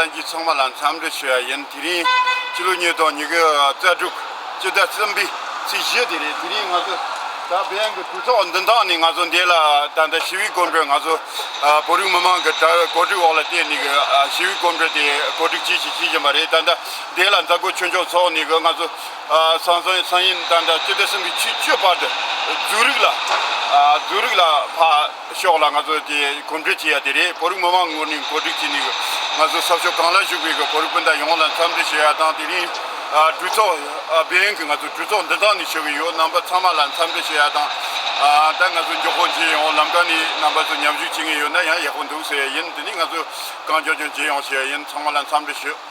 ལྷན་གྱིས་ཚོགས་མ་ལ་འཚམས་འདྲི་ཞུ་བ་ཡིན། དེ་རིང་ཕྱི་ལོ་ཉིས་སྟོང་ཉི་ཤུ་རྩ་དྲུག་སྤྱི་ཟླ་གསུམ་པའི་ཚེས་བཞི་དེ་རེད། དེ་རིང་ང་ཚོ་ད་ཕན་གྱི་གྲོས་ཚོགས་འདི་དག་ནི་ང་ཚོ་འདས་ལ་ད་ལྟ་ཞི་བའི་སྐོམ་འགྲོས་ང་ཚོ་བོད་རིགས་མི་མང་གི་གྲ་བའི་གོ་སྒྲིག་འོག་ལ་བརྟེན་ནས་གི་ཞི་བའི་སྐོམ་འགྲོས་དེ་གོ་སྒྲིག་བྱེད་བཞིན་བྱེད་བཞིན་པ་རེད། ད་ལྟ་འདས་ལ་མཛའ་བརྐོས་ཆོས་འབྱུང་ཚོགས་ནས་གི་ང་ཚོ་ཚང་ཚང་ཡིན་ཚང་ཡིན་འདྲ་འདྲ་སྤྱི་བདེ་སྲིད་འཛིན་ཆུས་སྤྱོད་པ་དེ་འཛུགས་རིགས་ལ་འཛུགས་རིགས་ལ་ཕར་ཞོག་ལ་ང་ཚོ་དེ་གོམ་བགྲོད་བྱེད་ཡ་དེ་རེད་བོད་རིགས་མི་མང་ངོ་ནས་གོ་སྒྲིག་བྱས་ནས་ང་ཚོ་གསར་ཤོག་གང་ལ་བཞུགས་པའི་བོད་རིགས་སྤུན་ཟླ་ཡོངས་ལ་འཚམས་འདྲི་བྱེད་ཡ་དང་དེ་རིང་གྲོས་ཚོགས་སྦས་ཡུན་གྱི་ང་ཚོ་གྲོས་ཚོགས་འདི་དག་ནས་ཞུ་གི་ཡོད་རྣམ་པ་ཚང་མ་ལ་འཚམས་འདྲི་བྱེད་ཡ་དང་ད་ང་ཚོ་མགྱོགས་པོ་རྗེས་ཡོང་ལམ་ཀ་ནས་རྣམ་པ་ཚོ་མཉམ་ཞུགས་བྱེད་ངེས་ཡོད་ན་ཡང་ཡག་པོ་འདུག་ཟེར་ཡ་ཡིན་དེ་ནས་ང་ཚོ་གང་མགྱོགས་ཀྱང་རྗེས་ཡོང་བྱེད་ཡ་ཡིན་ཚང་མ་ལ་འཚམས་འདྲི་ཞུ།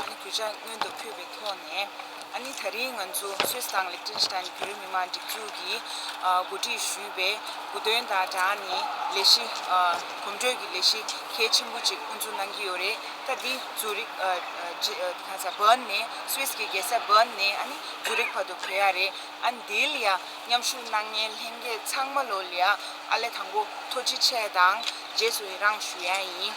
ཨ་ནི་གུས་ཅང་སྔོན་དུ་ཕུད་པའི་ཐོག་ནས་ཨ་ནི་ད་རིང་ང་ཚོ Swiss དང Liechtenstein བོད་རིགས་མི་དམངས་སྒྲིག་འཛུགས་ཀྱིས་གོ་སྒྲིག་ཞུས་པའི་བུ་སྟོན་དང་སྦྲགས་ནས་ལས་གཞི། གོམ་བགྲོད་ཀྱི་ལས་གཞི་གལ་ཆེན་པོ་ཅིག་དབུ་འཛུགས་གནང་གི་ཡོད་རེད། ད་འདི Zurich། Bern། ནས Swiss གྱི་རྒྱལ་ས Bern ནས་ཨ་ནི Zurich བར་དུ་བོད་ཡ་རེད། ཨ་ནི་འདི་ལ་མཉམ་ཞུགས་གནང་མཁན་ལྷན་རྒྱས་ཚང་མ་ལོ་ལེགས་ཨ་ལས་དང་པོ་ཐོ་ཅི་ཆེ་དང་རྗེས་སུ་ཡི་རངས་ཞུ་ཡ་ཡིན།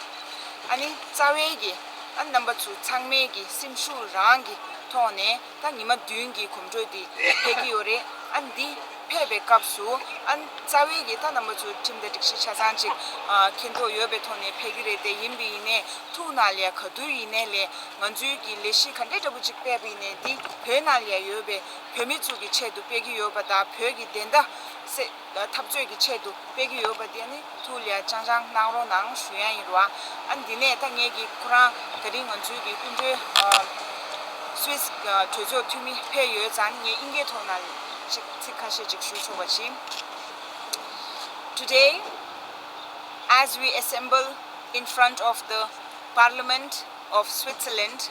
ཨ་ནི་རྩ་བའི་གི། ཨ་རྣམ་པ་ཚོ་ཚང་མས་ཀྱི་སེམས་ཤུགས་རང་གི་ཐོག་ནས་ད་ཉི་མ་བདུན་གྱི་གོམ་བགྲོད་དེ་ཕེབས་ཀྱི་ཡོད་རེད་ཨ་འདི་ཕེབས་པའི་སྐབས་སུ་ཨ་རྩ་བའི་ཀྱི་ད་རྣམ་པ་ཚོ་ཁྲིམས་དང་སྒྲིག་གཞི་ཆ་ཚང་ཅིག་མཁྱེན་ཐོག་ཡོད་པའི་ཐོག་ནས་ཕེབས་ཀྱི་རེད་དེ་ཡིན་པའི་ཡིན་ནས་ཐུགས་ནང་ལས་ག་དུས་ཡིན་ནས་ལས་ང་ཚོའི་ཀྱི་ལས་གཞི་ག་འདྲེ་འདྲ་པོ་ཅིག་ཕེབས་པའི་ཡིན་ནས་འདི་བོད་ནང་ལས་ཡོད་པའི་བོད་མི་ཚོ་ཀྱི་ཆེད་དུ་ཕེབས་ཀྱི་ཡོད་པ་དང་བོད་ཀྱི་བདེན་མཐའ་སེ། འཐབ་རྩོད་ཀྱི་ཆེད་དུ་སྤེལ་གྱི་ཡོད་པ་དེ་ནི་ཐུགས་ལས་ཅང་ཅང་གནང་རོགས་གནང་ཞུ་ཡ་ཡིན་རུ་ཨ། ཨ་འདི་ནས་ཐ་སྙད་ཀྱིས་ཁོ་རང་ད་རིང་ང་ཚོའི་གི་སྐུ་མགྲོན Swiss གྲོས་ཚོགས་འཐུས་མི་ཕེབས་ཡོད་ཙང་ངས་དབྱིན་སྐད་ཐོག་ན་ཅིག་ཚིག་ཁ་ཤས་ཅིག་ཞུ་ཆོག་པ་བྱིན། Today as we assemble in front of the Parliament of Switzerland,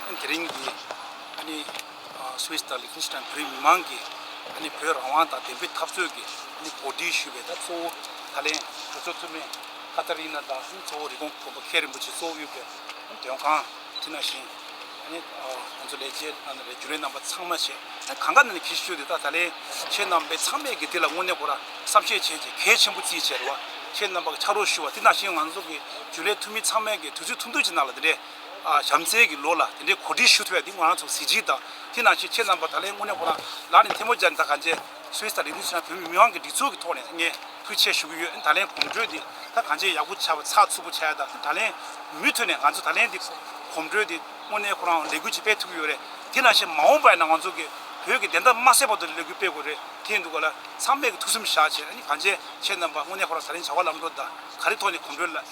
དེ་རིང་གི Swiss དང Liechtenstein བོད་མི་མང་གི་བོད་རང་དབང་དང་བདེན་པའི་འཐབ་རྩོད་ཀྱི་གོ་སྒྲིག་ཞུས་པའི་གཙོ་བོ་ད་ལན་གྲོས་ཚོགས་འཐུས་མི Katarina དང་གཙོ་བོ་རི་གོང་གོང་པོ་མཁན་རིན་པོ་ཆེ་གཙོ་བོ་ཡོད་པའི་དོན་ཁང་དེ་ན་བཞིན་ང་ཚོ་ལས་བྱེད་རྒྱུན་ལས་རྣམ་པ་ཚང་མ་བྱས་གང་དགའ་ནི་གལ་ཆེ་ཤོས་དེ་ད་ལན་ཁྱེད་རྣམ་པས་ཚང་མས་ཀྱི་དེ་ལ་དངོས་གནས་ཁོ་ར་བསམ་ཤེས་བྱས་ཀྱི་གལ་ཆེན་པོ་རྩིས་བྱས་རེད་བ་ཁྱེད་རྣམ་པ་ཕྱག་རོགས་ཞུ་བ་དེ་ན་བཞིན་ང་ཚོ་གི་རྒྱུན་ལས་འཐུས་མི་ཚང་མས་ཀྱི་དུས་ཚོད་ཐུང་ཐུང་ཅིག་གནང་ལ་དེ་འདྲའི། བྱམས་བརྩེ་གི་ལོ་ལ་དེ་འདྲའི་གོ་སྒྲིག་ཞུ་ཐུབ་པ་དེ་ང་རང་ཚོ་གཟི་བརྗིད་དང་དེ་ནང་བཞིན་ཁྱེད་རྣམ་པ་ད་ལན་དངོས་གནས་ཁོ་རང་ལགས་ནས་ཐལ་མོ་སྦྱར་ནས་ད་ག་འཇའི Swiss དང་ལས་དུས་ཚོད་ནང་བོད་མི་མི་དམངས་ཀྱི་སྒྲིག་འཛུགས་ཀྱི་ཐོག་ནས་ངས་ཕུལ་ཆད་ཞུ་གི་ཡོད་ད་ལན་གོམ་བགྲོད་དེ་ད་ག་འཇའི་ཡག་པོ་བྱ་བ་ཚགས་ཚུད་པོ་བྱ་ཡ་ད་དེ་ད་ལན་མུས་ཐོད་ནས་ང་ཚོ་ད་ལན་དེ་གོམ་བགྲོད་དེ་དངོས་གནས་ཁོ་རང་ལས་འགུལ་ཅིག་སྤེལ་ཐུབ་ཀྱི་ཡོད་རེད་དེ་ནང་བཞིན་མ་འོངས་པ་ཡ་ན་ང་ཚོ་གི་བོད་ཀྱི་བདེན་མཐའ་མ་གསལ་བར་དུ་ལས་འགུལ་སྤེལ་དགོས་རེད་དེ་འདུག་ག་ལ་ཚང་མས་ཀྱི་ཐུགས་བསམ་བཞག་བྱས་ནས་ག་འཇའི་ཁྱེད་རྣམ་པ་དངོས་གནས་ཁོ་རང་ད་ལན་བྱ་བ་ལམ་འགྲོ་ད་ག་རེ་ཐོག་ནས་གོམ་བགྲོད་ལ།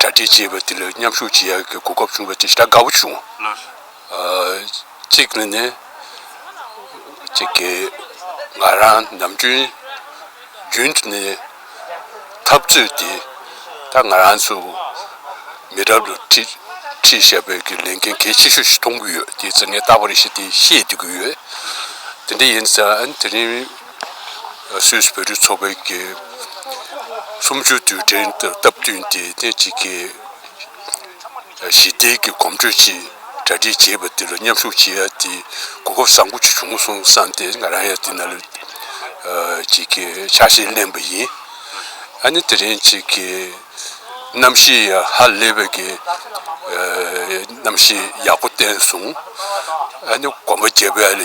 གྲ་སྒྲིག་བྱས་པ་དེ་ལ་མཉམ་ཞུགས་བྱེད་ཡག་གི་གོ་སྐབས་བྱུང་བ་དེ་ཤ་དགའ་བོ་བྱུང། གཅིག་ནི་ནི། གཅིག་གིས་ང་རང་ནམ་རྒྱུན་རྒྱུན་དུ་ནས་འཐབ་རྩོད་དེ་ད་ང་རང་ཚོ་མི་རབས་ལ་ཁྲིད་ཁྲིད་ཞབས་པའི་གི་ལས་འགན་གལ་ཆེ་ཤོས་ཤིག་མཐོང་གི་ཡོད་དེ་ཚོ་ངས་ལྟ་བ་རེ་ཞིག་དེ་ཤེས་བསྡུས་ཀྱི་ཡོད། དེ་འདྲ་ཡིན་ཙང་དེ་རིང། སུད་བོད་རིགས་ཚོགས་པའི་དགེ་གསུམ་ཆོས་དུས་དྲན་སྟབས་བསྟུན་ཏེ་ཐེངས་གཅིག་གི་ཞི་བདེ་གྱི་གོམ་བགྲོད་ཅིག་གྲ་སྒྲིག་བྱས་པ་དེ་ལ་མཉམ་ཞུགས་བྱེད་ཡ་དེ་གོ་སྐབས་བཟང་པོ་ཞིག་བྱུང་སོང་བསམ་སྟེ་ང་རང་ཡང་དེ་ན་ལོས་གཅིག་གི་ཕྱག་ཞེན་གླེང་བ་ཡིན། ཨ་ནི་དེ་རིང་གཅིག་གི་གནམ་གཤིས་ཡང་ཧ་ལས་པའི་གི་གནམ་གཤིས་ཡག་པོ་བསྟན་སོང། ཨ་ནི་གོམ་པ་རྒྱས་པའི་ཡང།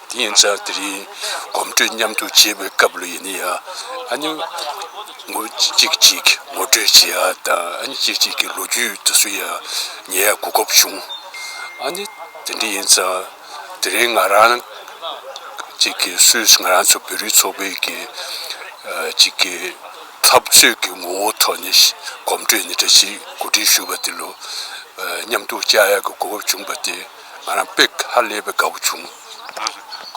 དེ་ཡིན་ཙང་དེ་རིང་གོམ་བགྲོད་མཉམ་དུ་བྱེད་པའི་སྐབས་ལ་ཡིན་ན་ཡང་ཨ་ནེ་ངོ་གཅིག་གཅིག་ངོ་སྤྲོད་བྱེད་ཡ་དང་ཨ་ནེ་གཅིག་གཅིག་གི་ལོ་རྒྱུས་དུ་གསུང་ཡ་ངས་གོ་སྐབས་བྱུང། ཨ་ནེ་དེ་འདྲ་ཡིན་ཙང་དེ་རིང་ང་རང་གཅིག་གི་སུས་ང་རང་ཚོ་བོད་རིགས་ཚོགས་པའི་གི་གཅིག་གི་འཐབ་རྩོད་ཀྱི་ངོ་བོ་ཐོག་ནས་གོམ་བགྲོད་འདི་འདྲ་ཞིག་གོ་སྒྲིག་ཞུས་པ་དེ་ལོ་མཉམ་དུ་བཅར་ཡ་གི་གོ་སྐབས་བྱུང་པ་དེ། ང་རང་དཔེ་ཁ་ལས་པའི་དགའ་བོ་བྱུང།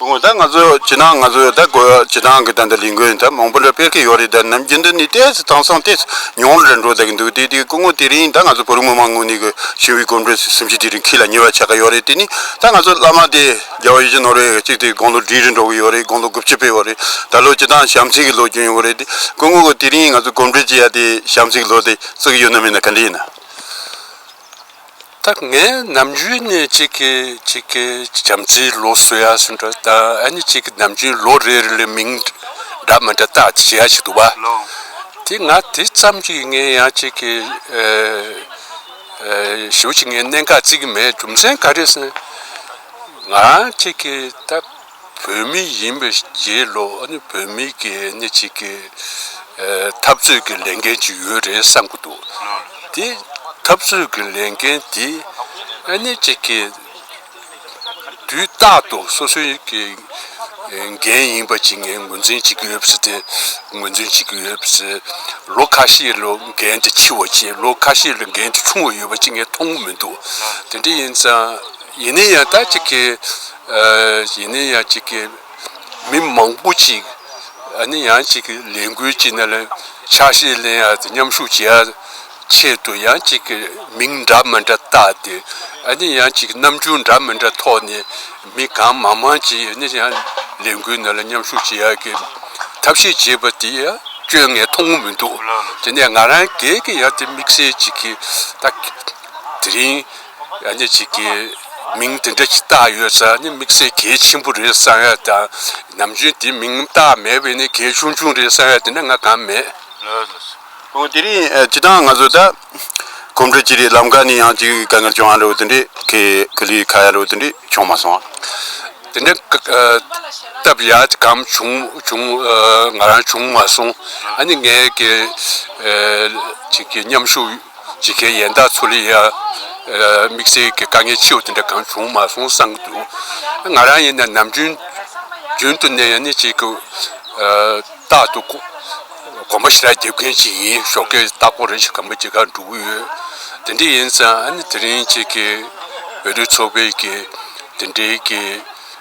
སྐུ་ངོ་ད་ང་ཚོ་ཇི་ནང་ང་ཚོ་ད་དགོས་ཇི་ནང་གི་ད་འདི་ལིང་གོན་ད་མང་པོ་འདྲ་དཔེར་གི་ཡོད་རེད་ད་ནམ་རྒྱུན་འདི་ནི་ལྟས་སུ་དང་སང་ལྟས་སུ་མྱོང་རེ་འགྲོ་ད་གི་འདུག་དེ་དེ་སྐུ་ངོ་དེ་རིང་ད་ང་ཚོ་བོད་རིགས་མི་མང་ངོ་ནི་གི་ཞིང་བའི་གོམ་བགྲོད་སི་སིམ་གྱི་དེ་རིང་ཁི་ལ་ཉེ་བ་ཆགས་གི་ཡོད་རེད་དེ་ནི་ད་ང་ཚོ་བླ་མ་དེ་རྒྱལ་བ་ཡུལ་གྱི་ནོར་བས་གཅིག་དེ་དགོང་ལོ་འདྲིས་རེ་འགྲོ་གི་ཡོད་རེད་དགོང་ལོ་དགུ་བཅུ་པའི་འོ་རེད་ད་ལོ་ཅི་ད་ཞམ་ཚིག་གི་ལོ་གྱོན་ཡོང་གི་རེད་དེ་སྐུ་ངོ་གི་དེ་རིང་ང་ཚོ་གོམ་བགྲོད་ཅི་ཡ་དེ་ཞམ་ཚིག་གི་ལོ་དེ་བརྩི་གི་ཡོད་ན་མེད་ན་ག་འདྲས་ཡིན། ད་ངས་ནམ་རྒྱུན་ནས་གཅིག་གི་གཅིག་གི་བྱམས་བརྩེའི་ལོ་གསོལ་ཡ་གསུང་འདྲ་ད་ཨ་ནི་གཅིག་གི་ནམ་རྒྱུན་ལོ་རེ་རེ་ལས་མིང་འདྲ་མི་འདྲ་བཏགས་བྱས་ཡ་ཞིག་འདུག་བ། དེ་ང་དེ་ཙམ་གྱིས་ངས་ཡང་གཅིག་གི་ཞེའུ་ཅིག་ངས་གནད་འགག་རྩིས་ཀྱི་མེད་རྒྱུ་མཚན་ག་རེ་ཟེར་ན་ང་རང་གཅིག་གི་ད། བོད་མི་ཡིན་པའི་རྗེས་ལོ་བོད་མི་གི་སྣེ་གཅིག་གི་འཐབ་རྩོད་ཀྱི་ལས་འགན་ཅིག་ཡོད་རེད་བསམ་གྱི་འདུག་དེ་འཐབ་རྩོད་ཀྱི་ལས་འགན་དེ་སྣེ་གཅིག་གི་དུས་རྟག་ཏུ་སོ་སོའི་གི་འགན་ཡིན་པ་ཅིག་ངས་ངོས་འཛིན་བྱེད་ཀྱི་ཡོད་པ་ཞིག་དེ་ངོས་འཛིན་བྱེད་ཀྱི་ཡོད་པ་ཞིག་ལོ་ཁ་ཤས་ལ་འགན་དེ་འཁྱིལ་བ་ཅིག་ལོ་ཁ་ཤས་ལ་འགན་དེ་ཆུང་བ་ཡོད་པ་ཅིག་ངས་མཐོང་གི་མི་འདུག་དེ་འདྲ་ཡིན་ཙང་ཡིན་ན་ཡང་ད་ཅིག་གི་གཞན་ནི་ཡང་གཅིག་གིས་མི་མང་པོ་ཅིག་ནི་ཡང་གཅིག་གི་ལས་འགུལ་གྱི་ནང་ལ་ཕྱག་བཞེས་གླེང་ཡ་དང་མཉམ་ཞུགས་བྱེད་ཡ་ཆེད་དུ་ཡང་གཅིག་གི་མིང་འདྲ་མི་འདྲ་བཏགས་ཏེ་ནི་ཡང་གཅིག་གི་རྣམ་འགྱུར་འདྲ་མི་འདྲ་ཐོག་ནས་མི་གང་མང་མང་ཅིག་ནི་ཡང་ལས་འགུལ་ནང་ལ་མཉམ་ཞུགས་བྱེད་ཡ་གི་ཐབས་ཤེས་བྱེད་པ་དེ་ཡང་སྐྱོན་ངས་མཐོང་མི་འདུག་དེ་ནས་ང་རང་སྒེར་གྱི་ཡང་དེ་དམིགས་བསལ་ཅིག་གིས་ད་དེ་རིང། ཡང་ནི་གཅིག་གིས་མིང་དེ་འདྲ་ཞིག་བཏགས་ཡོད་ས་ནི་དམིགས་བསལ་གལ་ཆེན་པོ་རེད་བསམ་ཡ་དང། ནམ་རྒྱུན་དེ་མིང་བཏགས་མེད་པས་ནི་གལ་ཆུང་ཆུང་རེད་བསམ་ཡ་དེ་འདྲ་ང་གང་མེད། ཨོ་དེ་རིང་སྤྱི་བཏང་ང་ཚོ་ད་གོམ་བགྲོད་ཀྱི་རེད་ལམ་ཁ་ནས་ཡང་ཅིག་དཀའ་ངལ་བྱུང་ཡ་རོ་དེ་འདྲས་ཁེ་ཁི་ལི་ཁ་ཡ་རོ་དེ་འདྲས་བྱུང་མ་སོང། དེ་འདྲས་སྟབས་ཡ་གམ་བྱུང་བྱུང་ང་རང་བྱུང་མ་སོང་ཨ་ནི་ངའི་གི་ཅིག་གི་མཉམ་ཞུགས། ཇི་སྐད་ཡན་དག་ཚུར་ལེན་ཡང། དམིགས་བསལ་གྱི་དཀའ་ངལ་ཆེ་བ་དེ་འདྲ་གང་བྱུང་མ་སོང་བསམ་གྱི་འདུག་ང་རང་ཡིན་ན་ནམ་རྒྱུན་རྒྱུན་དུ་གནས་ཡང་གནས་གཅིག་གི་རྟག་ཏུ་གོམ་པ་ཞེ་དྲག་རྒྱབ་མཁན་ཞིག་ཡིན་ཞོག་སྐད་ལྟག་སྐོར་རེ་ཞིག་གམ་པ་ཇི་ག་འགྲོ་གི་ཡོད། དེ་འདྲ་ཡིན་ཙང་དེ་རིང་ཁྱེད་ཀྱིས་བོད་རིགས་ཚོགས་པའི་གི་དེ་འདྲའི་གི།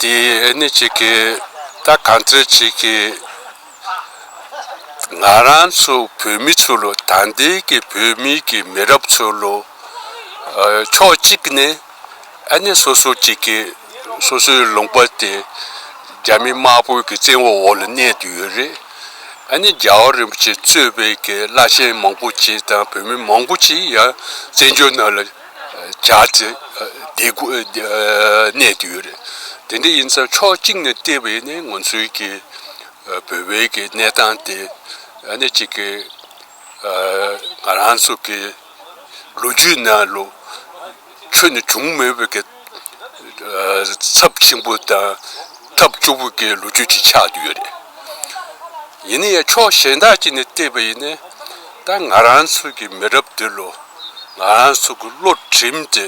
དེ་ཨེ་ནི་གཅིག་གི་ད་གང་ཚེ་གཅིག་གི་ང་རང་ཚོ་བོད་མི་ཚོ་ལོ་ད་འདི་གི་བོད་མི་གི་མི་རབས་ཚོ་ལོ་ཕྱོགས་གཅིག་ནས་ཨེ་ནི་སོ་སོ་གཅིག་གི་སོ་སོའི་ལུང་པ་དེ་རྒྱ་མི་དམར་པོའི་གི་བཙན་བོ་འོག་ལ་གནས་དུ་ཡོད་རེད་ཨེ་ནི་རྒྱ་བོ་རིན་པོ་ཆེ་གཙོས་པའི་གི་བླ་ཆེན་མང་པོ་ཆེ་དང་བོད་མི་མང་པོ་ཆེ་ཡང་བཙན་བྱོལ་ནང་ལ། སྦྱར་ཏེ་བསྡད་དགོས་གནད་དུ་ཡོད་རེད། དེ་འདྲ་ཡིན་ཚེ་ཕྱོགས་གཅིག་ནས་བལྟས་པས་ནི་ང་ཚོའི་གི་བོད་པའི་གི་གནས་སྟངས་དེ་ནི་གཅིག་གི་ང་རང་ཚོ་གི་ལོ་རྒྱུས་ནང་ལོ་ཆོས་ནས་བྱུང་མེད་པའི་གི། ཚབས་ཆེན་པོ་དང་ཐབས་སྐྱོ་པོ་གི་ལོ་རྒྱུས་ཀྱི་ཆ་དུ་ཡོད་རེད། ཡིན་ན་ཡང་ཕྱོགས་གཞན་དག་ཅིག་ནས་བལྟས་པ་ཡིན་ན། ད་ང་རང་ཚོ་གི་མི་རབས་འདི་ལོ་ང་རང་ཚོ་གི་བློ་གྲིམས་ཏེ་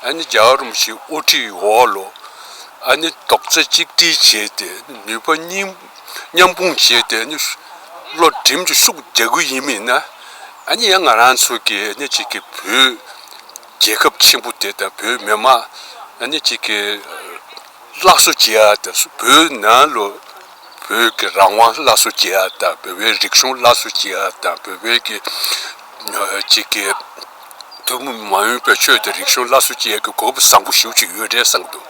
ཨ་ནི་རྒྱ་རོ་མི་ཞིག་དབུ་ཁྲིད་འོག་ལོ་ཨ་ནི་རྡོག་རྩ་གཅིག་སྒྲིལ་བྱས་ཏེ་ནུས་པ་མཉམ་སྤུངས་བྱས་ཏེ་བློ་གྲིམས་ཀྱི་ཤུགས་རྒྱག་གི་ཡིན་མིན་ན། ཨ་ནི་ཡང་ང་རང་ཚོ་གི་ཨ་ནི་གཅིག་གི་བུ། རྒྱལ་ཁབ་ཆེན་པོ་དེ་དང་བོད་མི་དམངས་གནས་གཅིག་གི་སླར་གསོ་བྱེད་ཡ་དང་བོད་ནང་ལོ་བོད་ཀྱི་རང་དབང་སླར་གསོ་བྱེད་ཡ་དང་བོད་པའི་རིག་གཞུང་སླར་གསོ་བྱེད་ཡ་དང་བོད་པའི་གི་གཅིག་གི་ཐུན་མོང་མ་ཡིན་པའི་ཆོས་དང་རིག་གཞུང་སླར་གསོ་བྱེད་ཡ་གི་གོ་བུ་བཟང་པོ་ཞུ་བྱེད་ཡོད་རེད་བསམ་འདུག་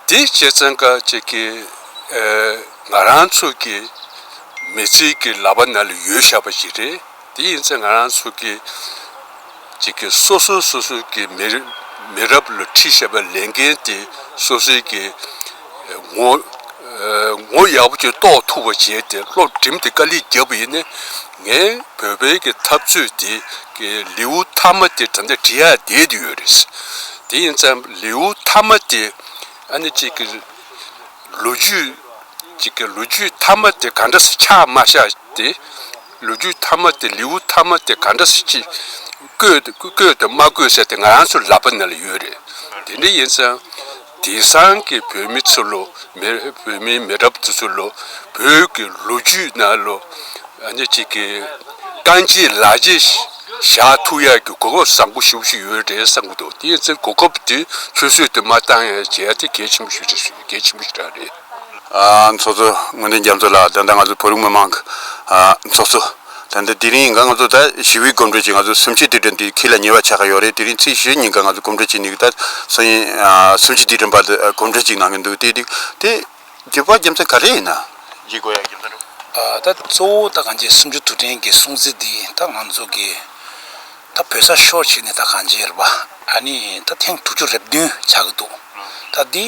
དེ་བྱེད་ཙང་ཀ་གཅིག་གི་ང་རང་ཚོ་གི་མི་ཚེ་གི་ལག་པ་ན་ལ་ཡོད་ཤ་པ་ཞིག་རེད། དེ་ཡིན་ཚེ་ང་རང་ཚོ་གིས་གཅིག་གིས་སོ་སོས་སོ་སོའི་གི་མི་རབས་ལ་ཁྲིད་བྱེད་པའི་ལས་འགན་དེ་སོ་སོའི་གི་ངོ་ངོ་ཡག་པོ་ཅིག་རྟོགས་ཐུབ་པ་བྱས་ཏེ་སློབ་འགྲིམ་དེ་དཀའ་ལས་རྒྱབ་པ་ཡིན། ངའི་བོད་པའི་གི་འཐབ་རྩོད་དེ་གི་ལེའུ་མཐའ་མ་དེ་ད་ལྟ་བྲི་ཡ་བསྡད་དུ་ཡོད་རེད། དེ་ཡིན་ཚེ་ལེའུ་མཐའ་མ་དེ་ཨ་ནི་གཅིག་གི་ལོ་རྒྱུས་གཅིག་གི་ལོ་རྒྱུས་མཐའ་མ་དེ་ག་འདྲ་སེ་ཆགས་མ་ཆགས་དེ། ལོ་རྒྱུས་མཐའ་མ་དེ་ལེའུ་མཐའ་མ་དེ་ག་འདྲ་ཞིག་ཅིག་བཀོད་དང་མ་བཀོད་ཟེར་དེ་ང་རང་ཚོའི་ལག་པ་ན་ལ་ཡོད་རེད། དེ་འདྲ་ཡིན་ཙང། དེང་སང་གི་བོད་མི་ཚོ་ལོ་མི་བོད་མི་མི་རབས་དེ་ཚོ་ལོ་བོད་ཀྱི་ལོ་རྒྱུས་ན་ལོ་གཉིས་གཅིག་གི་རྐང་རྗེས་ལག་རྗེས་བཞག་ཐུག་ཡག་གི་གོ་སྐབས་བཟང་པོ་ཞིག་ཞིག་ཡོད་རེད་བསམ་གྱི་འདུག་དེ་ཚོའི་གོ་སྐབས་དེ་ཆུད་ཟོས་དེ་མ་བཏང་ཡང་བྱས་ཐེ་གལ་ཆེན་པོ་ཞིག་རེད། གལ་ཆེན་པོ་ཞིག་ཀྱང་རེད། ཚོགས་གཙོ་དངོས་དོན་རྒྱ་མཚོ་ལགས་ད་ལྟ་ང་ཚོ་བོད་རིགས་མི་མང་གི་ཚོགས་གཙོ། ད་ལྟ་དེ་རིང་འགའ་ང་ཚོ་ད་ཞི་བའི་གོམ་བགྲོད་ཀྱིས་ང་ཚོ་སུམ་ཆའི་དུས་དྲན་དུས་ཁྱེད་ལ་ཉེ་བ་ཆགས་ཀྱི་ཡོད་རེད་དེ་རིང་ཚེས་བཞི་ཉིན་འགའ་ང་ཚོ་གོམ་བགྲོད་བྱེད་འདུག་ད་སང་ཉིན་སུམ་ཆའི་དུས་དྲན་བར་དུ་གོམ་བགྲོད་ཅིག་གནང་གི་འདུག་དེ་དུས་དེ་རྒྱལ་བ་རྒྱ་མཚོ་ག་རེ་ཡིན་ན་རྗེ་དགོན་ཡང་རྒྱ་མཚོ་འགྲོ། ད་གཙོ་བོ་ད་གངས་ཅན་སུམ་ཅུ་དུས་དྲན་གྱི་སྲུང་བརྩི་འདི་ད་ང་ཚོ་གི། ད་བོད་ས་ཤོར་བྱས་ནས་ད་གང་བྱས་རེད་པ། ཨ་ནི་ད་ཐེངས་དྲུག་ཅུ་རེ་བདུན་ཆགས་ཀྱི་འདུག་ད་འདི་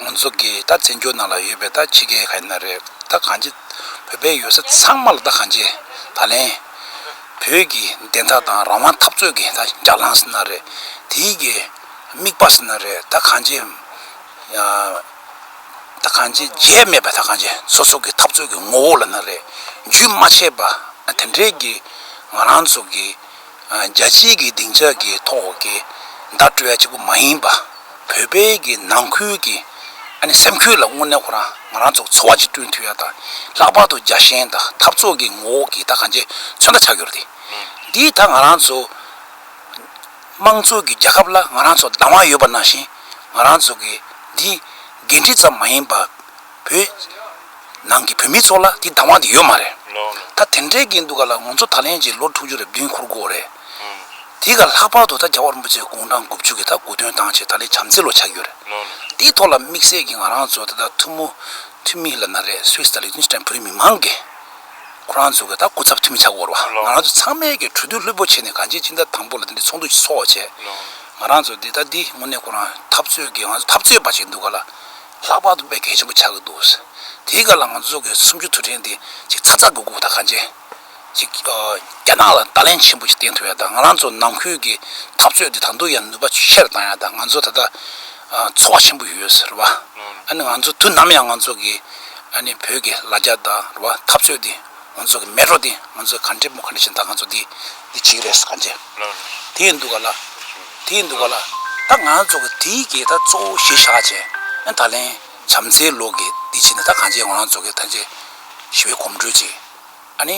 ངོ་ཚོ་གི་ད་བཙན་བྱོལ་ནང་ལ་ཡོད་པའི་ད་ཕྱི་རྒྱལ་ག་ཡིན་ན་རེད་ད་གང་བྱས་བོད་པའི་ཡོད་ས་ཚང་མ་ལ་ད་གང་བྱས་ད་ལན་བོད་ཀྱི་བདེན་མཐའ་དང་རང་དབང་འཐབ་རྩོད་ཀྱི་ད་རྒྱ་ལངས་ཟེར་ན་རེད་དེའི་གི་དམིགས་པ་ཟེར་ན་རེད་ད་གང་བྱས། གང་ཅིའི་རྗེས་སྨྲས་པ་དག་གང་ཅི་སོ་སོ་གི་འཐབ་རྩོད་ཀྱི་ངོ་བོ་ལ་ན་རེ་རྒྱུན་མ་ཆད་པ་དེ་འདྲས་ཀྱི་ང་རང་ཚོ་གི་རྒྱལ་སྤྱིའི་གི་སྡིངས་ཆ་གི་ཐོག་གི་བརྡ་སྤྲོད་ཡ་གཅིག་པུ་མ་ཡིན་པ་བོད་པའི་གི་ནང་ཁུལ་གྱི་སེམས་ཁུལ་ལ་དངོས་གནས་ཁོ་རང་ང་རང་ཚོ་འཚོ་བ་གཅིག་བསྐྲུན་འཐུས་ཡ་དང་ལྷག་པར་དུ་རྒྱ་ཞེན་དང་འཐབ་རྩོད་ཀྱི་ངོ་བོ་གི་དག་གང་ཅི་མཚོན་ད་ཆགས་ཡོད་རེད་འདིའི་དག་ང་རང་ཚོ། དམངས་གཙོ་གི་རྒྱལ་ཁབ་ལ་ང་རང་ཚོ་སྡང་བ་ཡོད་པ་ནང་བཞིན་ང་རང་ཚོ་གི་འདི་འགན་འཁྲི་ཙམ་མ་ཡིན་པར་བོད་ནང་གི་བོད་མི་ཚོ་ལ་དེ་སྡང་བ་དེ་ཡོད་མ་རེད། ད་དེ་འདྲའི་གི་འདུག་ག་ལ་ང་ཚོ་ད་ལན་གྱི་ལོ་དྲུག་ཅུ་རེ་བདུན་འཁོར་དགོས་རེད། དེ་ག་ལྷག་པར་དུ་ད་རྒྱ་བ་རིན་པོ་ཆེ་དགུང་གྲངས་དགུ་བཅུ་གི་ད་དགུ་དོན་བཏང་ཆེད་ད་ལན་བྱམས་བརྩེ་ལོ་ཆགས་ཀྱི་ཡོད་རེད། དེའི་ཐོག་ལ་དམིགས་བསལ་གྱི་ང་རང་ཚོ་ད་ཐུགས་མོ་འཐུས་མི་ལ་ན་རེ་སུས་ད་ལིག་ཏུན་སི་ཏན་བོད་མི་མང་གི། ཁོ་རང་ཚོ་གིས་ད་སྐུ་ཚབ་འཐུས་མི་ཆགས་སྐོར་བ། ང་རང་ཚོ་ཚང་མས་ཀྱི་གྲོས་བསྡུར་ལྷུད་པོ་བྱས་ནས་གང་བྱེད་ཅི་འདྲ་དང་པོ་ལ་དེ་འདྲའི་ཚོགས་འདུ་ཞིག་འཚོགས་བྱས། ང་རང་ཚོ་འདི་ལྟ་འདི་དངོས་གནས་ཁོ་རང་འཐབ་རྩོད་ཀྱི་ང་ཚོ་འཐབ་རྩོད་པ་ཞིག་འདུག་ག་ལ། ལྷག་པར་དུ་དཔེ་གལ་ཆེན་པོ་ཆགས་ཀྱི་འདུག། དེའི་སྐབས་ལ་ང་ཚོ་གི་སུམ་ཅུ་ཐུབ་ཕྲན་དེ་ཅིག་ཚ་ཚ་དགུ་དགུ་དང་གང་བྱེད་ཅིག་རྒྱ་ནག་ལ་བརྡ་ལན་ཆེན་པོ་ཅིག་བསྟན་ཐུབ་ཡ་དང་ང་རང་ཚོ་ནང་ཁུལ་གྱི་འཐབ་རྩོད་དེ་ད་དུང་ཡང་ནུས་པ་ཆེ་རུ་བཏང་ཡ་དང་ང་ཚོ་ད་ལྟ་ཚོར་བ་ཆེན་པོ་ཡོད་ཟེར་བ། ཨ་ནི་ང་ཚོ་དུས་ནམ་ཡང་ང་ཚོ་གི་ཨ་ནི་བོད་ཀྱི་ལ་རྒྱ་དང་རེད་བ་འཐབ་རྩོད་དེ་ང་ཚོ་གི་མེད་རོ་དེ་ང་ཚོ་ག་འདྲེ་མོ་ག་འདྲེ་བྱེད་ད་ང་ཚོ་དེ་དེ་གཅིག་རེད་ག་འདྲེ་དེ་འདུག་ག་ལ་དེ་འདུག་ག་ལ་ད་ང་ཚོ་གི་དེ་གི་ད་གཙོ་བོ་གཞི་བཞག་བྱས་ཨ་ད་ལན་བྱམས་བརྩེའི་ལོག་གི་དེ་བྱེད་ན་ད་ག་འདྲེ་ང་ཚོ་གི་ད་འདྲེ་ཞི་བའི་གོམ་བགྲོད་ཅིག་ཨ་ནི།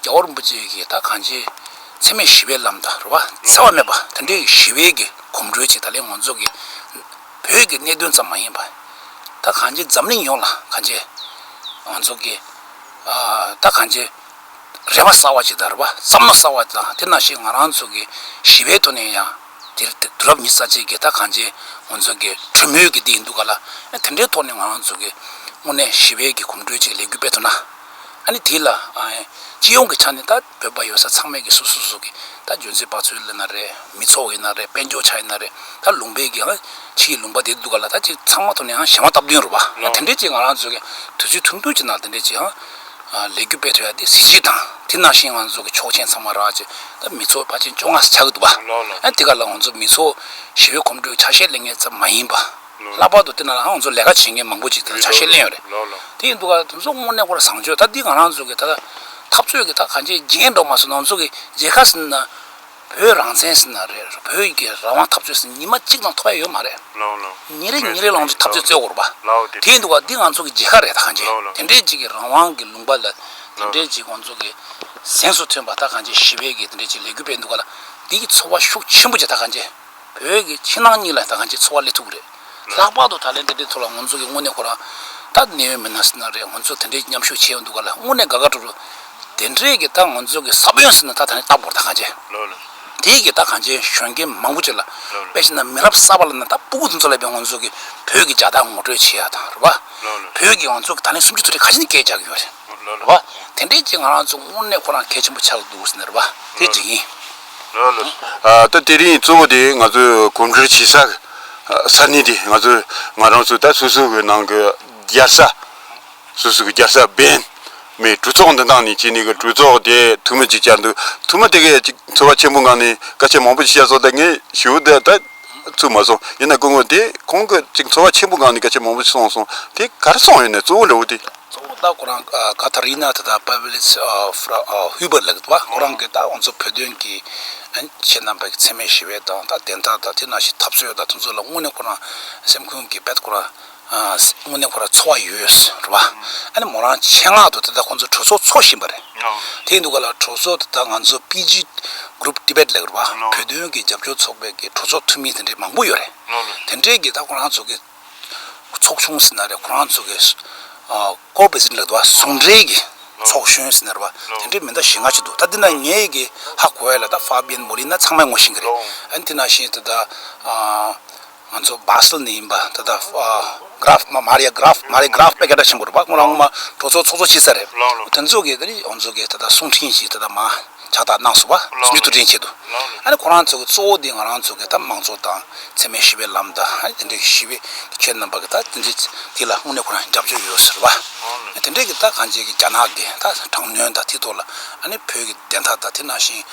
རྒྱལ་པོ་རིན་པོ་ཆེ་ཞེས་དག་གང་ཆེའི་ཚད་མས་ཞི་བའི་ལམ་དང་རུ་བ་འཚེ་བ་མེད་པ་དེ་འདྲའི་ཞི་བའི་གི་གོམ་བགྲོད་ཅིག་ད་ལན་ངོ་མཚོ་གི་བོད་ཀྱི་གནད་དོན་ཙམ་མ་ཡིན་པ་དག་གང་ཆེའི་འཛམ་གླིང་ཡོངས་ལ་གང་ཆེ་ང་ཚོ་གི་དག་གང་ཆེའི་རེ་བ་གསར་བ་ཅིག་དང་རུ་བ་བསམ་མནོ་གསར་བ་དང་དེ་ནང་བཞིན་ང་རང་ཚོ་གི་ཞི་བའི་ཐོག་ནས་ཡང་དེར་དུས་རབས་ཉི་ས་བཅད་ཀྱི་དག་གང་ཆེའི་ངོ་མཚོ་གི་གྲོས་མོལ་གྱི་དེ་ཡིན་འདུག་ག་ལ་དེ་འདྲའི་ཐོག་ནས་ང་རང་ཚོ་གི་དངོས་གནས་ཞི་བའི་གི་གོམ་བགྲོད་ཅིག་ལེགས་སྒྱུར་སྤེལ་ཐུབ་ན། ཨ་ནི་དེ་ལ། སྤྱི་ཡོངས་ཀྱི་ཆ་ནས་ད་བོད་པ་ཡོད་ས་ཚང་མས་ཀྱི་སོ་སོ་སོ་གི་ད་རྒྱུ་མཚན་དཔག་ཚུལ་ལ་ན་རེ་མི་ཚོགས་ཡིན་ན་རེ་དཔལ་འབྱོར་ཆ་ཡིན་ན་རེ་ད་ལུང་པའི་གི་ཕྱི་ཡི་ལུང་པ་དེ་འདུག་ག་ལ་ད་ཅིག་ཚང་མ་ཐོག་ནས་ཞེན་མ་སྟབས་བདུན་རུ་བ་དེ་འདྲས་ཅིག་ང་རང་ཚོ་གི་དུས་ཚོད་ཐུང་ཐུང་ཅིག་ནང་དེ་འདྲས་ཅིག་ལས་རྒྱུ་སྤེལ་ཐུབ་ཡ་དེ་གཟི་བརྗིད་དང་དེ་ནང་བཞིན་ང་ཚོ་གི་ཆོག་མཆན་ཚང་མ་རག་ཅིག་ད་མི་ཚོགས་བ་ཅན་བཅོ་ལྔ་ས་ཆགས་གི་འདུག་བ་ཨ་དེ་ག་ལ་ང་ཚོ་མི་ཚོགས་ཞི་བའི་གོམ་བགྲོད་ཆ་ཤས་ལེ་ངེ་ཙམ་མ་ཡིན་པ། ལྷག་པར་དུ་དེ་ནང་ལའང་ང་ཚོ་ལས་ཀ་བྱེད་མཁན་མང་པོ་ཅིག་དང་ཆ་ཤས་གླེང་ཡོད་རེད། དེ་ཡིན་འདུག་ག་དེ་ཚོ་དངོས་གནས་ཁོ་ར་བཟང་སྤྱོད་ད་འདི་ང་རང་ཚོ་གི་ད་ལྟ་འཐབ་རྩོད་ཀྱི་ཐག་གང་ཅིའི་བརྗེད་མདོག་མ་བཟོ་ནང་ཚོ་གི་རྒྱལ་ཁ་ཟིན་ན་བོད་རང་བཙན་ཟིན་ན་རེད་བོད་ཀྱི་རང་དབང་འཐབ་རྩོད་ཟིན་ཉིན་མ་གཅིག་ནང་ཐོག་ཡ་ཡོད་མ་རེད། ཉིན་རེ་ཉིན་རེ་ལའང་ཚོ་འཐབ་རྩོད་རྩོད་དགོས་རུ་པ། དེ་ཡིན་འདུག་ག་འདི་ང་ཚོ་གི་རྒྱལ་ཁ་རེད་ད་གང་ཅི་དེ་འདྲའི་ཅིག་གི་རང་དབང་གི་ལུང་པ་ལ་དེ་འདྲའི་ཅིག་ང་ཚོ་གི་གཟེངས་སུ་ཐོན་པ་ད་གང་ཅིའི་ཞི་བའི་གི་དེ་འདྲའི་ཅིག་ལས་གུས་པས་འདུག་ག་ལ་འདི་གི་འཚོ་བ་ཤུགས་ཆེན་པོ་ཅིག་ད་གང་ཅི། བོད་ཀྱི་ཕྱི་ནང་གཉིས་ལ་ད་གང་ཅིའི་འཚོ་བ་ལས་ཐུག་རེད། ལྷག་པར་དུ་ད་ལན་འདི་འདྲའི་ཐོག་ལ་ངོ་མཚོ་གི་དངོས་གནས་ཁོ་རང་ད་ནེའུ་ཡོད་མི་སྣ་ཟེར་ན་རེད་ངོ་མཚོ་དེ་འདྲའི་མཉམ་ཞུགས་བྱས་ཡོང་འདུག་ག་ལ་དངོས་གནས་དགའ་ག་འགྲོ་རུ། དེ་འདྲའི་གི་ད་ངོ་མཚོ་གི་ས་བོན་ཟེར་ན་ད་ད་ནི་ལྟ་བོར་ད་གང་ཅི། དེའི་གི་ད་གང་ཅིའི་གཞོན་སྐྱེས་མང་པོ་ཅིག་ལ་དཔེ་བྱས་ན་མི་རབས་གསར་པ་ལ་ན་ད་སྤུ་གུ་དེ་ཚོ་ལ་ཡང་ངོ་མཚོ་གི་བོད་ཀྱི་རྒྱ་དག་ངོ་སྤྲོད་བྱས་ཡ་དང་རེད་བ། བོད་ཀྱི་ང་ཚོ་གི་ད་ལན་སུམ་ཅུ་ཚོ་རེ་ཁ་ཆེ་ནི་སྐད་རྒྱག་གི་ཡོད་རེད་བ། དེ་འདྲའི་ཅིག་ང་རང་ཚོ་དངོས་གནས་ཁོ་རང་གལ་ཆེན་པོ་ཆགས་འདུག་ཟེར་ན་རེད་བ་དེ་འདྲ་ཡིན། ད་དེ་རིང་གཙོ་བོ་དེ་ང་ཚོས་གོམ་བགྲོད་བྱེད་ས་ས་གནས་དེ་ང་ཚོས་ང་རང་ཚོས་ད་སོ་སོ་གི་ནང་གི་རྒྱལ་ས་སོ་སོ་གི་རྒྱལ་ས་བེན་མའི་གྲོས་ཚོགས་འདི་དང་ནས་བྱས་ནས་གི་གྲོས་ཚོགས་དེ་ཐུ་མི་ཅིག་བཅར་འདུག་ཐུ་མི་དེ་གས་ཅིག་ཚོ་བ་ཆེན་པོ་ངང་ནས་སྐད་ཆ་མང་པོ་ཅིག་བཤད་སོང་ད་ངས་ཞུ་ད་ད། ཚུགས་མ་སོང། ཡིན་ན་སྐུ་ངོ་དེས་གོང་གི་ཅིག་འཚོ་བ་ཆེན་པོ་སྒང་ནས་སྐད་ཆ་མང་པོ་ཞིག་གསུངས་སོང། དེ་གར་སོང་ཡོད་ནས་གཙོ་བོ་ལེའུ་སྟེ། གཙོ་བོ་ད་ཁོ་རང་ཀ་ཐ་རི་ནཱ་ཐ་ཐཱ་པཱ་བྷེ་ལེ་ཚི་ཧུའི་བར་ལེགས་པ་ཁོ་རང་གིས་ད་ང་ཚོ་བོད་དོན་གྱི་ཁྱེད་རྣམ་པ་གི་འཚེ་མེད་ཞི་བའི་དང་ད་བདེན་མཐའ་དང་དེ་ནང་བཞིན་འཐབ་རྩོད་དང་དེ་ཚོ་ལ་དངོས་ནས་ཁོ་རང་སེམས་ཁུངས་ཀྱི་བེད་ཁོ་རང་དངོས་གནས་ཁོ་རང་འཚོ་བ་ཡོད་རེད་བ། ཨ་ནི་མོ་རང་ཆེད་མངགས་དུ་དེ་དག་ཁོང་ཚོའི་གྲོས་ཚོགས་འཚོགས་བཞིན་པ་རེད། དེ་ཡིན་དུས་ག་ལ་གྲོས་ཚོགས་དེ་དག་ང་ཚོ PG Group Tibet ལས་བ་བོད་དོན་གྱི་རྒྱབ་སྐྱོར་ཚོགས་པའི་གྲོས་ཚོགས་འཐུས་མི་དེ་འདྲའི་མང་པོ་ཡོད་རེད། དེ་འདྲའི་གི་ད་ཁོ་རང་ཚོ་གི་ཚོགས་ཆུང་ཟེར་ན་རེད་ཁོ་རང་ཚོ་གི Core President ལས་བ་ཟུང་འབྲེལ་གྱི་ཚོགས་གཞོན་ཟེར་ན་རེད་བ་དེ་འདྲའི་མི་འདྲ་བཞི་ལྔ་ཅིག་འདུག་ད་དེ་ན་ངའི་གི་ཧ་གོ་ཡ་ལ་ད Fabian Molina ཚང་མས་ངོ་ཤེས་གི་རེད། ཨ་ནི་དེ་ན་བཞིན་དེ་དག་ང་ཚོ་སྦར་སིལ་ནས་ཡིན་པ་ད་ལྟ Graf Maria Graf Maria Graf པའི་སྐད་སྒྲ་ཆེན་པོ་རེད་བ་སྔོན་ལ་སྔོན་མ་གྲོ་ཚོགས་ཚོགས་གཙོ་བྱས་ས་རེད་དོན་གཙོ་གི་དེ་ཨོ་མཚོ་གི་ད་ལྟ་གསུང་འཕྲིན་ཞིག་ད་ལྟ་མ་ཕྱག་བཏགས་གནང་སོང་བ་སུ་མི་ཐུགས་འདྲན་བྱས་འདུག་ཨ་རེ་ཁོ་རང་ཚོ་གི་གཙོ་བོ་དེ་ང་རང་ཚོ་གི་ད་མང་གཙོ་དང་འཚེ་མེད་ཞི་བའི་ལམ་དང་ཨ་རེ་དེ་འདྲའི་ཞི་བའི་ཆོས་རྣམ་པ་གི་ད་དེ་འདྲའི་དེ་ལ་དངོས་གནས་ཁོ་རང་རྒྱབ་སྐྱོར་ཡོད་ཟེར་བ་དེ་འདྲའི་གི་ད་གང་བྱས་གི་རྒྱ་ནག་གི་ད་དྲང་ནུས་ད་དེ་ཐོག་ལ་ཨ་ནི་བོད་ཀྱི་བདེན་མཐའ་ད་དེ་ནང་བཞིན།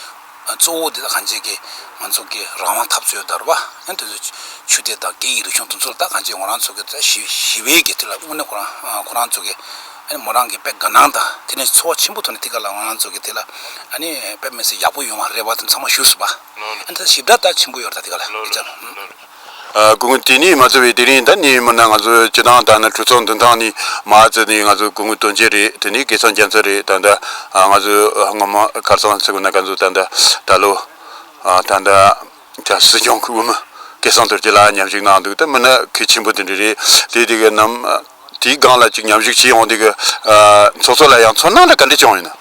གཙོ་བོ་དེ་དག་གང་བྱེད་ཀྱི་ང་ཚོ་གི་རང་དབང་འཐབ་རྩོད་དར་བ་ཡང་དེ་ཚོའི་ཆུ་དེ་དག་སྐད་ཡིག་རིག་གཞུང་དུ་ཚོར་ད་གང་བྱེད་ངོ་རང་ཚོ་གི་ད་ཞི་ཞི་བའི་གི་དེ་ལ་དངོས་གནས་ཁོ་རང་ཁོ་རང་ཚོ་གི་ཨ་མོ་རང་གི་དཔེ་དགའ་སྣང་དང་དེ་ནས་འཚོ་བ་ཆེན་པོ་ཐོག་ནས་དེ་ག་ལ་ང་རང་ཚོ་གི་དེ་ལ་ཨ་ནི་དཔེ་མི་སྲིད་ཡག་པོ་ཡོང་བ་རེད་བ་དེ་ཚང་མ་ཞུས་སུ་བ་ཨ་ནི་ད་ཞིབ་ཕྲ་ད་ཆེན་པོ་ཡོད་རེད་ད་དེ་ག་ལ་ཨེ་ཅང། གུང་དེ་ནས་མ་བཙལ་བའི་དེ་རིང་ད་ནས་མིན་ན་ང་ཚོ་ཅི་དང་ད་ནི་གྲོས་ཚོགས་འདི་དང་ནས་མ་བཙལ་ནས་ང་ཚོ་གུང་དོན་ཅི་རེད་དེ་ནས་གེ་ཚང་རྒྱ་མཚོ་རེད་ད་ད་ང་ཚོ་སྔོན་མ་ཁར་སང་ཚིག་གུ་ན་ག་ཚོད་ད་ད་ད་ལོ་ད་ད་ད་སྲིད་སྐྱོང་གི་དབུ་མི་གེ་ཚང་དོར་གྱི་ལ་ཉམས་ཞིག་གནང་འདུག་ད་མིན་ན་གེ་ཆེན་པོ་དེ་འདྲ་རེད་དེ་དེ་གི་ནམ་དེའི་སྒང་ལ་ཅིག་ཉམས་ཞིག་བྱས་ཡོང་དེ་གི་ཚོགས་གཙོ་ལ་ཡང་ཚོར་སྣང་ལ་ག་འདྲ་བྱུང་ཡོད་ན།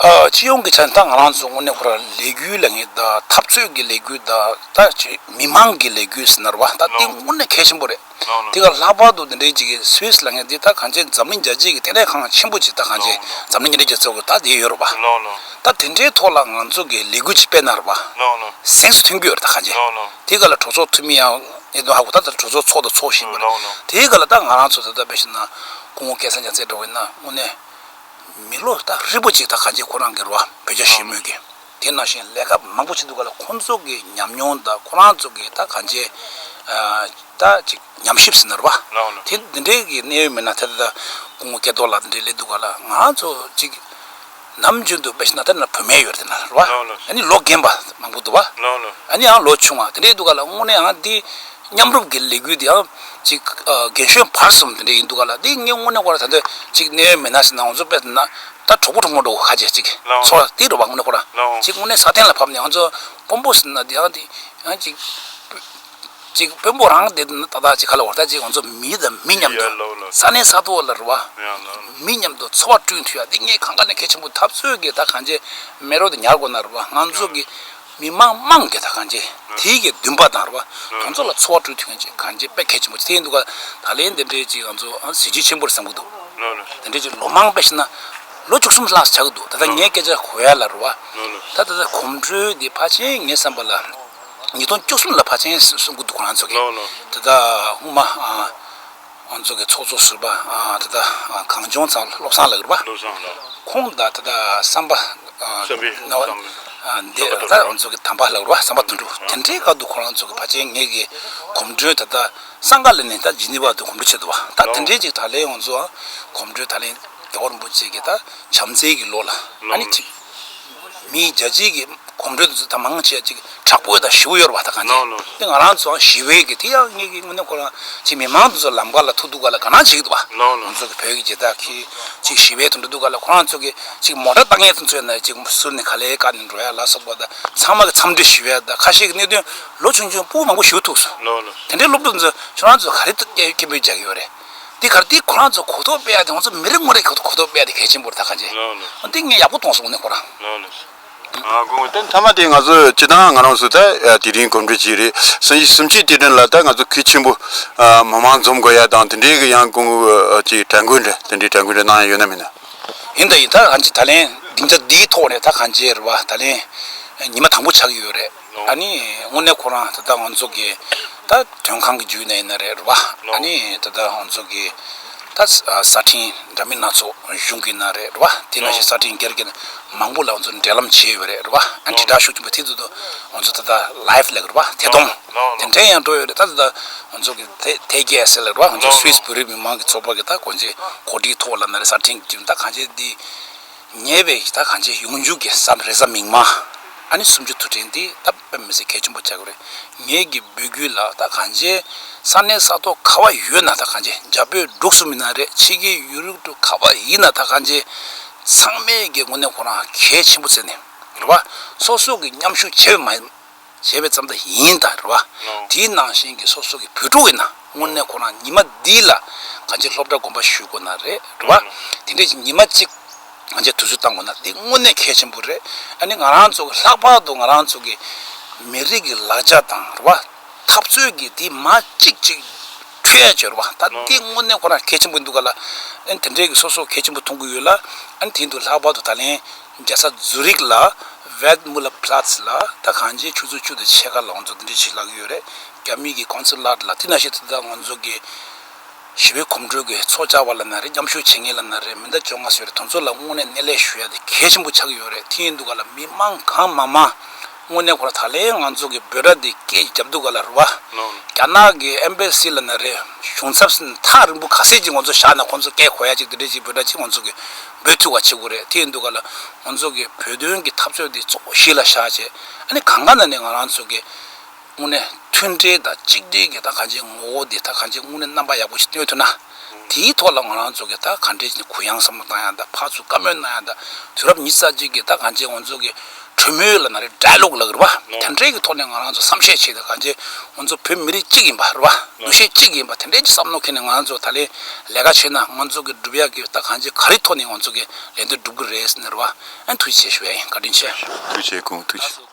སྤྱི་ཡོངས་ཀྱི་ཆ་ནས་ད་ང་རང་ཚོ་དངོས་གནས་ཁོ་ར་ལས་འགུལ་ལ་ངེས་ད་འཐབ་རྩོད་ཀྱི་ལས་འགུལ་ད་ད་ཅི་མི་དམངས་ཀྱི་ལས་འགུལ་ཟེར་ན་རོ་བ་ད་དེ་དངོས་གནས་གལ་ཆེན་པོ་རེད་དེ་ག་ལྷག་པར་དུ་འདི་འདྲའི་ཅིག་སུད་ལ་ངེས་འདི་ད་གང་ཅི་འཛམ་གླིང་རྒྱལ་སྤྱིའི་ལྟེ་གནས་ཁང་ཆེན་པོ་ཅིག་ད་གང་ཅི་འཛམ་གླིང་ཉེ་འབྲེལ་རྒྱལ་ཚོགས་ཀྱི་ད་དེ་ཡོད་རོ་བ་ད་དེ་འདྲའི་ཐོག་ལ་ང་ཚོ་གི་ལས་འགུལ་ཅིག་སྤེལ་ན་རོ་བ་གཟེངས་སུ་ཐོན་རྒྱུ་ཡོད་རེད་ད་གང་ཅི་དེ་ག་ལ་གྲོས་ཚོགས་འཐུས་མི་ཡང་གནད་དོན་ཧ་གོ་ད་ད་གྲོས་ཚོགས་ཚོགས་ད་ཚོགས་བཞིན་པ་རེད་དེ་ག་ལ་ད་ང་རང་ཚོ་ད་ད་བེད་ཤེ་ན་སྐུ་ངོ་སྐལ་བཟང་ཅང་ཚེ་སྒྲོལ་བས་ན་དངོས་གནས་མི་ལོ་ད་རིས་པོ་ཅིག་ད་ག་རྗེས་ཁོ་རང་གི་རོ་བོད་རྒྱ་ཞེས་སྨོས་ཀྱི་དེ་ནང་བཞིན་ལས་ཀ་མང་པོ་བྱེད་འདུག་ག་ལ་ཁོང་ཚོ་གི་ཉམས་མྱོང་ད་ཁོ་རང་ཚོ་གི་ད་ག་རྗེས་ད་ཅིག་ཉམས་ཞིབ་ཟིན་ན་རོ་བ་དེ་འདི་འདྲའི་གི་གནས་ཡོད་མེད་ན་ད་ད་སྐུ་ངོ་སྐལ་རྡོར་ལགས་འདི་འདྲའི་སླེབས་འདུག་ག་ལ་ང་རང་ཚོ་ཅིག་ནམ་རྒྱུན་དུ་དཔེ་བཞིན་ན་ད་ན་བུད་མེད་ཡོད་རེད་ན་རོ་བ་ཨ་ནི་ལོ་རྒན་པ་མང་པོ་འདུག་བ་ཨ་ནི་ཡང་ལོ་ཆུང་བ་དེ་འདྲའི་འདུག་ག་ལ་དངོས་གནས་ཡང་འདི་མཉམ་རུབ་གི་ལས་འགུལ་འདི་ཡང། ཅིག། རྒན་གཞོན་བར་གསུམ་དེ་འདྲ་ཡིན་འདུག་ག་ལ་དེ་ངས་དངོས་གནས་སྐོར་ད་ལྟ་ཅིག་གནས་ཡོད་མེད་ན་ཟེར་ན་ང་ཚོ་དཔེ་ལྟ་ན། ད་གྲོགས་པོ་གྲོགས་མོ་འགྲོ་ག་ཅིག་ཅིག་ཚོར་བ་དེ་རེད་བ་དངོས་གནས་སྐོར་ཅིག་དངོས་གནས་ས་སྟེང་ལ་ཕབ་ནས་ང་ཚོ་དཔོན་པོ་ཟེར་ན་དེ་ཡང་དེ་ཡང་ཅིག། ཅིག་དཔོན་པོ་རང་དེ་ད་ལྟ་ཅིག་ག་ལ་བ་ད་ཅིག་ང་ཚོ་མི་དང་མི་མཉམ་དུ་ས་སྣེ་ས་ཐོ་ལ་རེད་བ། མི་མཉམ་དུ་འཚོ་བ་བསྐྲུན་འཐུས་ཡ་དེ་ངས་གང་ག་ནས་གལ་ཆེན་པོ་འཐབ་རྩོད་ཀྱི་ད་གང་བྱས་མེད་རོགས་དེ་ཉར་དགོས་ན་རེད་བ་ང་ཚོ་གི། མི་དམངས་དམངས་ཀྱི་ད་གང་བྱེད་དེའི་གྱི་འདུན་པ་དང་རེ་བ་དང་ཚོགས་ལ་འཚོ་བ་སྤྲོད་ཐུབ་མཁན་གྱི་གང་བྱེད་དཔེ་གལ་ཆེན་པོ་ཐེ་འདུག་ག་ད་ལན་དེ་འདྲའི་གྱི་ང་ཚོ་གཟི་བརྗིད་ཆེན་པོར་བསམ་གྱི་འདུག་དེ་འདྲའི་གྱི་ལོ་མང་པས་ཤི་ན་ལོ་བཅུ་གསུམ་ལྷག་ཆགས་ཀྱི་འདུག་ད་ལྟ་ངའི་སྐད་ཆ་གོ་ཡ་ལ་རེ་བ་ད་ད་ལྟ་གོམ་བགྲོད་དེ་ཕར་ཕྱིན་ངས་བསམ་པ་ལ་ཉིས་སྟོང་བཅུ་གསུམ་ལ་ཕར་ཕྱིན་གསུང་གྱི་འདུག་ག་ང་ཚོ་གི་ད་ལྟ་དབུ་མ། ང་ཚོ་གི་ཚོགས་གཙོ་ཟུར་པ་དེ་དག་གངས་ལྗོངས་ཚང་བློ་བཟང་ལགས་རེད་པ། ཁོང་དང་དེ་དག་བསམ་པ་དེ་དག་རང་ཚོ་གི་དམ་པ་ལགས་རེད་པ་བསམ་པ་དོན་འགྲུབ་དེ་འདྲའི་སྐབས་དུ་ཁོང་རང་ཚོ་གི་ཕ་ཆེན་ངེད་ཀྱི་གོམ་བགྲོད་དེ་དག་སངས་དཀར་ལས་ནས་ད་ཇི་ནི་བར་དུ་གོམ་བགྲོད་བྱེད་འདུག་བ་ད་དེ་འདྲའི་ཅིག་ད་ལན་ང་ཚོའང་གོམ་བགྲོད་ད་ལན་རྒྱ་གར་རིན་པོ་ཆེ་གི་ད་བྱམས་བརྩེ་གི་ལོ་ལ་ཨ་ནི་ཁྲི་མིའི་རྒྱལ་སྤྱིའི་གི་གོམ་བགྲོད་དུ་མང་ཆེ་བ་ཅིག་དྲག་པོའི་དང་ཞི་བ་ཡོ་རོབ་བ་དང་གང་ཅིག་དེ་ང་རང་ཚོའང་ཞི་བའི་གི་དེ་ཡང་ངེད་གི་དངོས་གནས་ཁོ་རང་ཅིག་མི་མང་དུ་ཚོ་ལམ་ཁ་ལ་ཐུག་འདུག་ག་ལ་དགའ་སྣང་བྱེད་ཀྱི་འདུག་བ། ང་ཚོ་གི་བོད་གི་རྗེ་དག་གི་ཅིག་ཞི་བའི་དུ་འགྲོ་འདུག་ག་ལ་ཁོ་རང་ཚོ་གི་ཅིག་མོ་དགྲ་ལྟ་ངན་དུ་ཚོས་ན་ཅིག་ཟུར་ནས་ག་ལེ་ག་ནས་འགྲོ་ཡ་ལ་སོགས་པ་དང་ཚང་མ་གི་འཚམས་འདྲི་ཞི་བའི་དང་ཁ་ཤས་གི་གནད་དོན་ལོ་ཆུང་ཆུང་པོ་མང་པོ་ཞུ་ཐུག་སོང། དེ་འདྲའི་སློབ་ཕྲུག་ཚོ་ཁྱོད་རང་ཚོ་ག་རེ་སྐད་འབོད་རྒྱག་གི་ཡོ་རེད། འདི་གར་འདི་ཁོ་རང་ཚོ་གོ་ཐོག་སྤེལ་ཡག་ཁྱོད་ཚོ་མི་རིགས་དངོས་རིགས་གོ་ཐོག་སྤེལ་ཡག་གལ་ཆེན་པོ་རེད་ད་ག་ཇེ་འདི་ངས་ཡག་པོ་གཏོང་སོང་ནི་ཁོ་རང། དེ་མཐའ་མ་དེ་ང་ཚོ་སྤྱི་བཏང་ང་རང་ཚོ་ད་དེ་རིང་གོམ་བགྲོད་བྱས་རེད་སང་ཉིན་གསུམ་གཅིག་དེ་དྲན་ལ་ད་ང་ཚོ་ཁུལ་ཆེན་པོ་མི་མང་འཛོམས་དགོས་ཡག་དང་དེ་འདྲའི་གི་ཡང་ཀུང་ཅི་དྲན་སྐུལ་འདྲ་དེ་འདྲའི་དྲན་སྐུལ་འདྲ་གནང་ཡག་ཡོད་ན་མིན་ན། ཡིན་ད་ཡིན་ད་ག་ཇེ་ད་ལན་སྡིངས་ཆ་འདིའི་ཐོག་ནས་ད་ག་ཇེ་རེད་བ་ད་ལན་ཉི་མ་དང་པོ་ཆགས་ཀྱི་ཡོད་རེད། ཨཱ་ནི། དངོས་གནས་ཁོ་རང་ད་ལྟ་ང་ཚོ་གི་ད་དོན་ཁང་གི་རྒྱུད་ན་ཡིན་ན་རེད་རེད་བ། ཨཱ་ནི། ད་ལྟ་ང་ཚོ་གི་ད་གསར་འཕྲིན་འདྲ་མིན་སྣ་ཚོགས་གཞུང་གི་ན་རེད་རེད་བ། དེ་ན་བཞིན་གསར་འཕྲིན་སྒེར་གི་ན་མང་པོ་ལ་ང་ཚོ་འབྲེལ་ལམ་བྱས་ཡོད་རེད་རེད་བ། ཨཱ་ནི་དྲིལ་བསྒྲགས་ཤུགས་ཆེན་པོ་དེ་ཚོ་དུ་ང་ཚོ་ད་ལྟ live ལེགས་རེད་བ། དེ་དང། དེ་འབྲེལ་ཡང་འགྲོ་ཡོད་རེད་ད་ད་ད་ང་ཚོ་གི་ཐེ་ཐེ་ཀེ་ཨེས་ཨེལ་རེད་བ། ང་ཚོ Swiss བོད་རིགས་མི་མང་གི་ཚོགས་པ་གི་ད་གོ་འབྱེད་གོ་སྒྲིག་ཐོག་ལ་ན་རེ་གསར་འཕྲིན་གི་རྒྱུད་ན་ད་གང་ཆེ་འདི། ཉེས་པའི་གཞི་བདག་གང་བྱེད་ཡོངས་འཇུག་གི་བསམ་རེ་ཟ་མིག་མ་ཨ་ནི་སུམ་ཅུ་དུ་དྲན་ཏེ་ད་བེམ་མི་སྲིད་གལ་ཆེན་པོ་བྱ་དགོས་རེད་ངེད་ཀྱི་འབོད་སྐུལ་ལ་ད་གང་བྱེད་ས་གནས་ས་ཐོག་ཁ་བ་ཡོད་ན་ད་གང་བྱེད་རྒྱ་བོད་འབྲུག་གསུམ་མི་ན་རེ་ཕྱི་རྒྱལ་ཡུ་རུབ་དུ་ཁ་བ་ཡིན་ན་ད་གང་བྱེད་ཚང་མས་ཀྱི་ངོ་ནས་ཁོ་རང་གལ་ཆེན་པོ་བརྩད་ནས་རེད་བ་སོ་སོ་གི་མཉམ་ཞུགས་བྱེད་མ་བྱས་པའི་རྩམ་དག་ཡིན་དང་རེད་བ། དེའི་ནང་བཞིན་གྱི་སོ་སོ་གྱི་བུ་ཕྲུག་ཡིན་ན་དངོས་གནས་ཁོ་རང་ཉི་མ་འདི་ལ་གང་ཅིའི་སློབ་གྲྭ་དགོན་པ་ཞུས་དགོས་ན་རེད་རེད་བ། དེ་འདྲའི་ཉི་མ་གཅིག་ང་ཚོས་དུས་ཚོད་བཏང་དགོས་ན་འདི་དངོས་གནས་གལ་ཆེན་པོ་རེད། ཨ་ནི་ང་རང་ཚོ་གི་ལྷག་པར་དུ་ང་རང་ཚོ་གི་མི་རིགས་ཀྱི་ལག་ཆ་དང་རེད་བ། འཐབ་རྩོད་ཀྱི་དེ་མ་གཅིག་ཅིག་འཕྲོད་ཡ་བྱོས་རེད་བ། ད་འདི་དངོས་གནས་ཁོ་རང་གལ་ཆེན་པོ་འདུག་ག་ལ། ཨ་ནི་དེ་འདྲའི་གི་སོ་སོ་གལ་ཆེན་པོ་མཐོང་གི་ཡོད་ལ། ཨ་ནི་དེ་འདུག་ལྷག་པར་དུ་ད་ལན་རྒྱལ་ས་ཛུ་རིག་ལ Wertmüllerplatz ལ་ད་གང་ཆེ་ཆུ་ཚོད་བཅུ་དང་ཕྱེད་ཀ་ལོངས་ཚོ་འདི་འདྲའི་བྱེད་ལག་གི་ཡོད་རེད་རྒྱ་མི་གི Consulate ལ་དེ་ན་ཤེས་ཐུབ་ད་ང་ཚོ་གི་ཞི་བའི་གོམ་བགྲོད་གི་ཚོགས་བཅར་བ་ལ་ན་རེ་མཉམ་ཞུགས་བྱེད་མཁན་ལ་ན་རེ་མི་འདྲ་བཅོ་ལྔ་སོས་རེད་དོན་ཚོ་ལ་དངོས་གནས་གནས་ལས་ཞུ་ཡ་དེ་གལ་ཆེན་པོ་ཆགས་ཀྱི་ཡོད་རེད་དེ་ཡིན་དུ་ག་ལ་མི་དམངས་གང་མང་མང་དངོས་གནས་ཁོ་ར་ད་ལན་ང་ཚོ་གི་འབོད་སྒྲ་དེ་སྐད་ཀྱི་རྒྱབ་དུ་ག་ལ་རུ་བ་རྒྱ་ནག་གི Embassy ལ་ན་རེ་གཞུང་ཚབ་སེ་ན་ཐག་རིང་པོ་ག་ཟེ་ཅིག་ང་ཚོ་བཞག་ན་ཁོ་ཚོ་སྐད་གོ་ཡ་ཅིག་དེ་འདྲའི་ཅིག་འབོད་སྒྲ་ཅིག་ང་ཚོ་གི་འབོད་ཐུ་བ་བྱེད་དགོས་རེད་ཐེ་འདུག་ག་ལ། ང་ཚོ་གི་བོད་དོན་གི་འཐབ་རྩོད་དེ་གཙོ་བོ་གཞི་ལ་བཞག་ཆེད་ཨ་ནི་གང་ག་ན་ནས་ང་རང་ཚོ་གི། དངོས་གནས་མཐུན་སྒྲིལ་དང་གཅིག་སྒྲིལ་གི་ད་གང་ཅིའི་ངོ་བོ་དེ་ད་གང་ཅིའི་དངོས་གནས་རྣམ་པ་ཡག་པོ་ཞིག་སྟོན་ཐུབ་ན། དེའི་ཐོག་ལ་ང་རང་ཚོ་གི་ད་ག་འདྲའི་གུ་ཡངས་སམ་གང་ཡང་ད་ཕར་ཚུར་བཀའ་མོལ་གནང་ཡང་ད་དུས་རབས་ཉི་ཙ་གཅིག་གི་ད་གང་ཅིའི་ང་ཚོ་གི་གྲོས་མོལ་ལ་ན་རེ་འདྲ་ལོག་ལགས་རེད་བ། དེ་འདྲའི་གི་ཐོག་ནས་ང་རང་ཚོ་བསམ་ཤེས་བྱས་ཏེ་གང་བྱས་ང་ཚོ་བོད་མི་རིགས་གཅིག་ཡིན་པ་རེད་བ། འདུ་ཤེས་གཅིག་ཡིན་པ་དེ་འདྲའི་གི་བསམ་བློ་ཁེལ་ནས་ང་རང་ཚོ་ད་ལེན་ལས་ཀ་བྱས་ན་ང་ཚོ་གི་འགྲུབ་ཡག་གི་ད་གང་བྱས་ག་རེ་ཐོག་ནས་ང་ཚོ་གི་ལས་འདི་འགྲུབ་གི་རེད་ཟེར་ནས་རེད་བ། ཨན་ཐུགས་རྗེ་ཆེ་ཞུ་བ་ཡིན་བཀའ་དྲིན་ཆེ། ཐུགས་རྗེ་གུང་ཐུགས་རྗེ།